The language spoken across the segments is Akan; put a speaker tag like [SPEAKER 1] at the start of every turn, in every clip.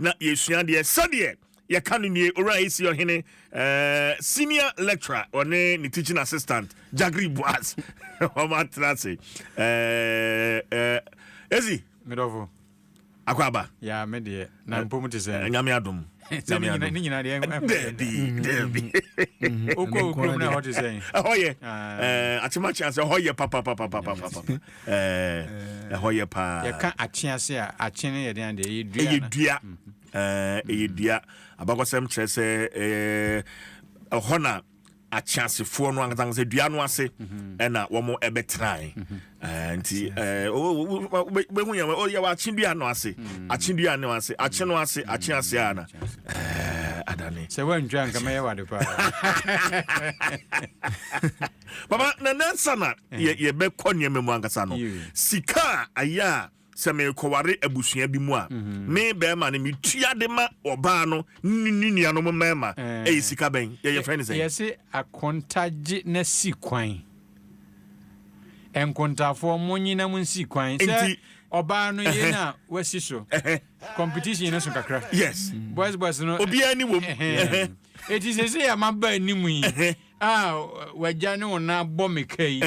[SPEAKER 1] na yɛsua adeɛ sɛdeɛ yɛka no nie owura ac ɔhene eh, senior lecturer ɔne ne teaching assistant jagri boas wɔn atena ase eh, eh, esi medɔfo
[SPEAKER 2] akɔ aba
[SPEAKER 1] ya me deɛ
[SPEAKER 2] na eh, mpom te sɛ eh, nyame adom sɛ
[SPEAKER 1] ne nyina- ne nyina
[SPEAKER 2] deɛ ɛnkɔ ɛda. daabi daabi
[SPEAKER 1] wokɔ
[SPEAKER 2] wo kurom no a ɛhɔ te sɛ ɛhɔ yɛ Ah.
[SPEAKER 1] eh, akyemakyea sɛ ɛhɔ yɛ papapapapapapa Ɛɛ, ɛhɔ yɛ paa. Yɛka akye ase a,
[SPEAKER 2] akye no yɛ dɛn deɛ? Ɛyɛ dua. Ɛyɛ dua.
[SPEAKER 1] Ɛɛ, ɛyɛ dua. Abakɔsɛm kyerɛ sɛ ɛɛ, ɛhɔ na akyeasefoɔ no ankasa ankasa dua no ase mhm. ɛna wɔn ɛbɛtrae mhm. eh, nti eh, wobɛhu yɛ oh, yɛwɔ akye dua no ase mhm. akye dua no ase akye no ase akye ase a na eh, adane sɛ woantwa
[SPEAKER 2] nka mɛyɛ wade paa
[SPEAKER 1] Papa, na nansa na eh. yɛbɛkɔ nneɛma mu ankasa no, sika a ayɛ a sɛ merekɔware abusua bi mu a mhm. me bɛrima no metua de ma ɔbaa no ne nuanom mmarima eh. ɛyɛ sika bɛn yɛyɛ frɛ no sɛ yɛse akontagye
[SPEAKER 2] na si kwan nkontafoɔ monyina mu nsi kwan sɛ ɔbaa no yɛ no a wasi so competition no so kakra yes boys boys
[SPEAKER 1] no obiara
[SPEAKER 2] ni wom
[SPEAKER 1] ɛti
[SPEAKER 2] sɛ sɛ yɛma ba anim yi A wagya ne wo na bɔ me ka yi.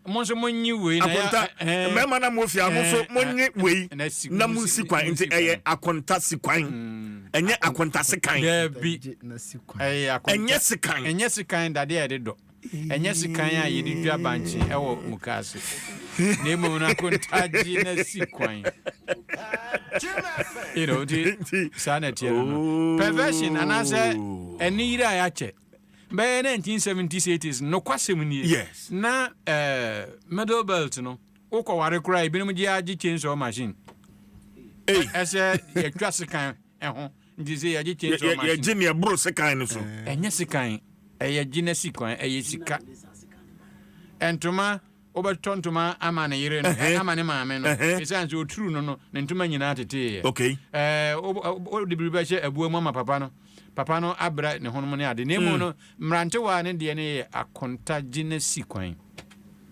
[SPEAKER 2] Mo nso mo nye wei na ya. Akonta mmarima na
[SPEAKER 1] mo fia mo nso mo nye wei na mo si kwan nti ɛyɛ akonta si kwan ɛnyɛ akonta se kan. Dabi
[SPEAKER 2] ɛyɛ akonta ɛnyɛ se kan ɛnyɛ se kan dade a yɛde dɔ ɛnyɛ se kan a yɛde dwa bankye ɛwɔ mukaase na emu no akonta gye na si kwan. You know nti saa na ɛteɛ no no perversion anaasɛ ɛne yiri a yɛakyɛ. bɛyɛ 1970s 80s nokwasɛm nie Yes. na
[SPEAKER 1] eh,
[SPEAKER 2] middle belt no wokɔ ware koraa ebinom gye agye chainsaw machine Ei, Ɛ- ɛsɛ yɛtwa sekan ɛho nti sɛ yɛgye yɛ- chainsaw yɛ- machine yɛgye neɛ boro sekan no
[SPEAKER 1] so ɛnyɛ sekan
[SPEAKER 2] ɛyɛ gye na si kwan ɛyɛ sika ɛntoma Wobɛtɔ ntoma ama ne yere no, Ɛhɛn. ama ne maame no, Ɛhɛn. esiane sɛ oturuu no no, ne ntoma nyinaa teteeɛ. Ok. Ɛɛ,
[SPEAKER 1] wo- wo-
[SPEAKER 2] wode biribi bɛhyɛ abua mu ama papa no, papa no abrɛ ne honom ne ade, na mmom no, mmerantewaa no deɛ no yɛ akonta gye na si kwan.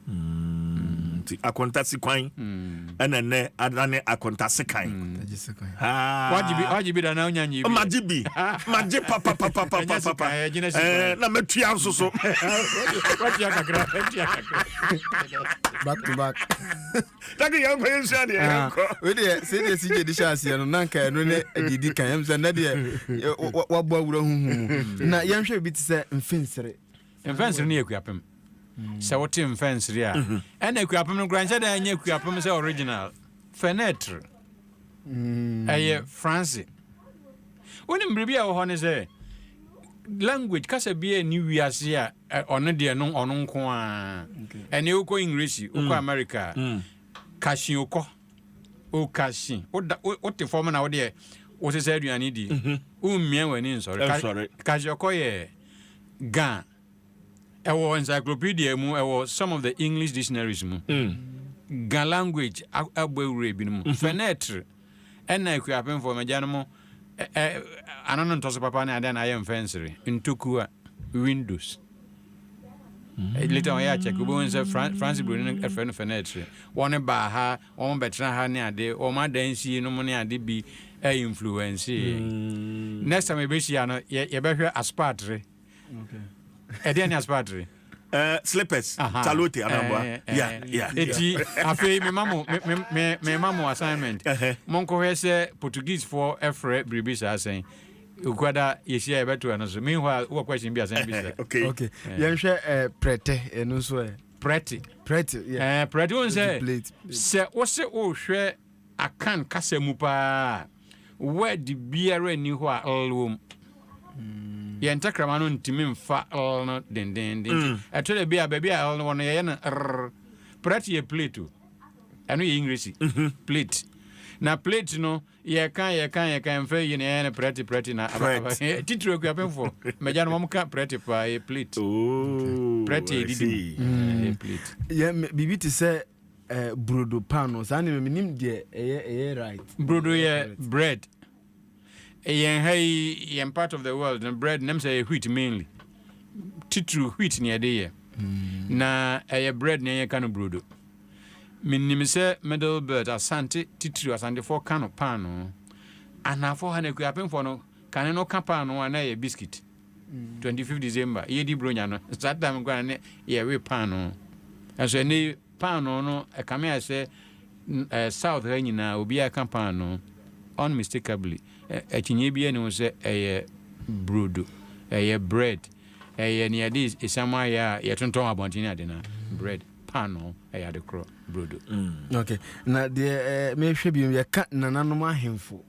[SPEAKER 2] Nti
[SPEAKER 1] akonta si kwan. ɛna nnɛ adane akonta sekan
[SPEAKER 2] wagye bi da na wonya nyɛ bi magye bi
[SPEAKER 1] magye papapapapapapa na matua nso so watua
[SPEAKER 2] kakra watua kakra
[SPEAKER 3] back to back dade yɛnkɔ
[SPEAKER 1] yɛnsua deɛ yɛnkɔ wedeɛ sɛdeɛ si
[SPEAKER 3] gye de hyɛ aseɛ no na nka ɛno ne deɛdi kan ɛm sɛ nnɛ deɛ wabɔ awura huhu mu na yɛnhwɛ bi te sɛ mfensere Mfɛnsere no yɛ
[SPEAKER 2] Akuapem. Sɛ wote mfɛnsere a, ɛna Akuapem no koraa nhyɛ da nyɛ Akuapem sɛ original. Fenêtre. Ɛyɛ France. Wonim biribi a ɛwɔ hɔ ne sɛ language kasa bi a ɛni wiase a ɔno deɛ no ɔno nko a ɛne wokɔ English wokɔ America kasi okɔ okasi wote fam na wodeɛ wosesa aduane di wommia w'ani nsɔre kasi ɔkɔ yɛ Ga, ɛwɔ encyclopedia mu, ɛwɔ some of the English dictionaries mu. Mm. Ga language abɔ awura ebinom. Mm -hmm. Fenêtre, ɛna akuapemfoɔ magya no mo ano no ntɔso papa ne adeɛ na ayɛ mfɛnsere, ntokua, windows. Mm. Later on, yɛ akyɛke, wobɛhu sɛ France buroni no ɛfrɛ no fenêtre. Wɔne baa ha, Wɔn bɛtena ha ne ade, wɔn adansi nom ne ade bi influence yɛn. Next time yɛbɛhyia no, yɛbɛhwɛ aspatre. Ɛdeɛ ne aspatre? Uh, slippers,
[SPEAKER 1] calote, anamboa. Eh, eh, yeah, eh. yeah. Eti, afei,
[SPEAKER 2] me mamu, me, me, me mamu assignment. Uh-huh. Monko hɛ sɛ Portuguese for ɛfrɛ biribi saa sɛn. Ukwada yɛhyia yɛbɛto ɛno so. Meanwhile, wɔ question bi asɛn bi sɛ. Okay. Okay. Yɛnhwɛ
[SPEAKER 3] prɛtɛ ɛno nso ɛ. prɛte.
[SPEAKER 2] Prɛte, yeah. Eh,
[SPEAKER 3] prɛte, wohu sɛ, plate,
[SPEAKER 2] plate. sɛ wose wohwɛ akan kasa mu paa a, word biara nni hɔ a l wom. Mm. Yɛn tɛkrɛma no ntumi mfa l no dendenden. Mm. Ɛtɔ da bi a baabi a l no wɔ no yɛyɛ no r. Prɛte yɛ plate o. Ɛno yɛ English. Mm -hmm. Plate. Na plate no yɛka yɛka yɛka mfrɛ yi na ɛyɛ no prɛte prɛte na titiri akuapemfoɔ magya no wɔm ka prɛte paa yɛ plate oh, prɛte ɛdidi mm. mu biribi te
[SPEAKER 3] sɛ eh, brodo pan no saa nneɛma menim deɛ ɛyɛ ɛyɛ right brodo yɛ
[SPEAKER 2] bread yɛn ha yi yɛn part of the world no bread nam sɛ yɛ wheat mainly titiri wheat ne ɛde yɛ mm. na ɛyɛ bread ne yɛka no brodo Menim sɛ Middle Belt, Asante, titiriw Asantefoɔ ka no paanoo. Anaafoɔ ha no, Akuapemfoɔ no, kane no ka paanoo a na ɛyɛ biscuit. 25 December, yɛredi Buronya no, saa time koraa no ne yɛwe paanoo. Nanso ɛnnɛ yi, paanoo no, ɛkame ayɛ sɛ eh, South ha nyinaa, obiara ka paanoo. Unmistakably, eh, akyinnye biara nni ho sɛ ɛyɛ brodo, ɛyɛ bread, ɛyɛ nea yɛde esiam ayɛ a yɛtontɔn wɔ abɔnten ne ade no, bread. paanoo yɛ ade korɔ brodo. Mm. ok
[SPEAKER 3] na deɛ eh, mehwɛ bi yɛka nananom ahemfo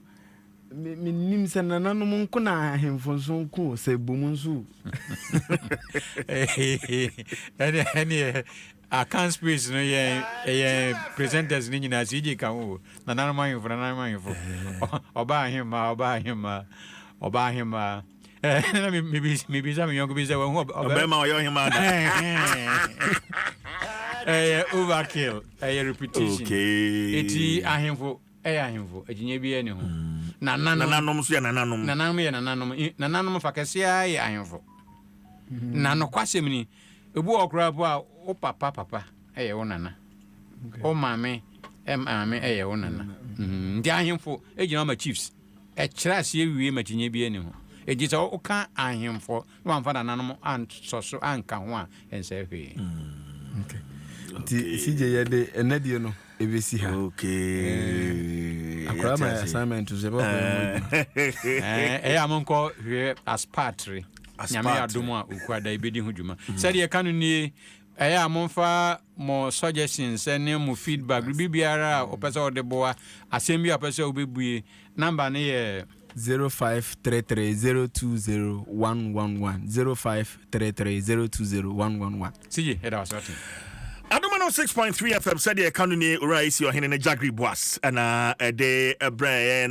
[SPEAKER 3] menim sɛ nananom nko na ahemfo nso nko sɛ bom nso
[SPEAKER 2] ɛneɛ akan space no yɛ ɛyɛ presenters no nyinaa sɛ yɛgye ka ho nananom ahemfo nananom ahemfo ɔba ahemma ɔba ahemma ɔba ahemma na mebisa me yɔnko bi sɛ wahu ɔbɛrima ɔyɛ ɔhema
[SPEAKER 1] da
[SPEAKER 2] ɛyɛ overkill ɛyɛ repetition ɛti
[SPEAKER 1] ahemfo
[SPEAKER 2] ɛyɛ ahemfo akyinnye bi ɛne ho mm. nananom
[SPEAKER 1] so yɛ nananom nananom yɛ nananom
[SPEAKER 2] nananom fa kɛseɛ yɛ ahemfo mm. na nokwasɛm ni ɛbu wɔ koraa po a wo papa papa ɛyɛ wo nana wo maame maame ɛyɛ wo nana mm. nti ahemfo ɛgyina wo ma chiefs Ɛkyerɛ aseɛ wie ma kyinyeɛ biara nni ho. Enti sɛ woka ahemfo na wamfa nananom ansɔ so anka ho a, ɛnsɛe hwee. Ok.
[SPEAKER 3] Nti CJ yɛde ɛnnɛ deɛ no ɛbɛsi ha. Ok. Eh,
[SPEAKER 1] Akwadaa ma yɛ yɛte ase.
[SPEAKER 3] assignment nso ɛbɛkɔ yɛn ho adwuma. Ɛɛ, ɛyɛ a
[SPEAKER 2] monkɔ hwɛ aspatre nyame yɛ Aspatre. adom a okuada yi bɛdi ho dwuma sɛdeɛ ɛka no nie ɛyɛ a momfa mo suggestions ne mo feedback, biribi biara a wopɛ sɛ wode boa, asɛm bi a wopɛ sɛ wobɛbue. Number no yɛ. 0533020111, 0533020111. Sigye, yɛda wo ase, wate. Adom
[SPEAKER 1] 106.3 FM sɛdeɛ ɛka no nie Owura AC Ɔhene ne Jagri Boas ɛna ɛde brɛ yɛn.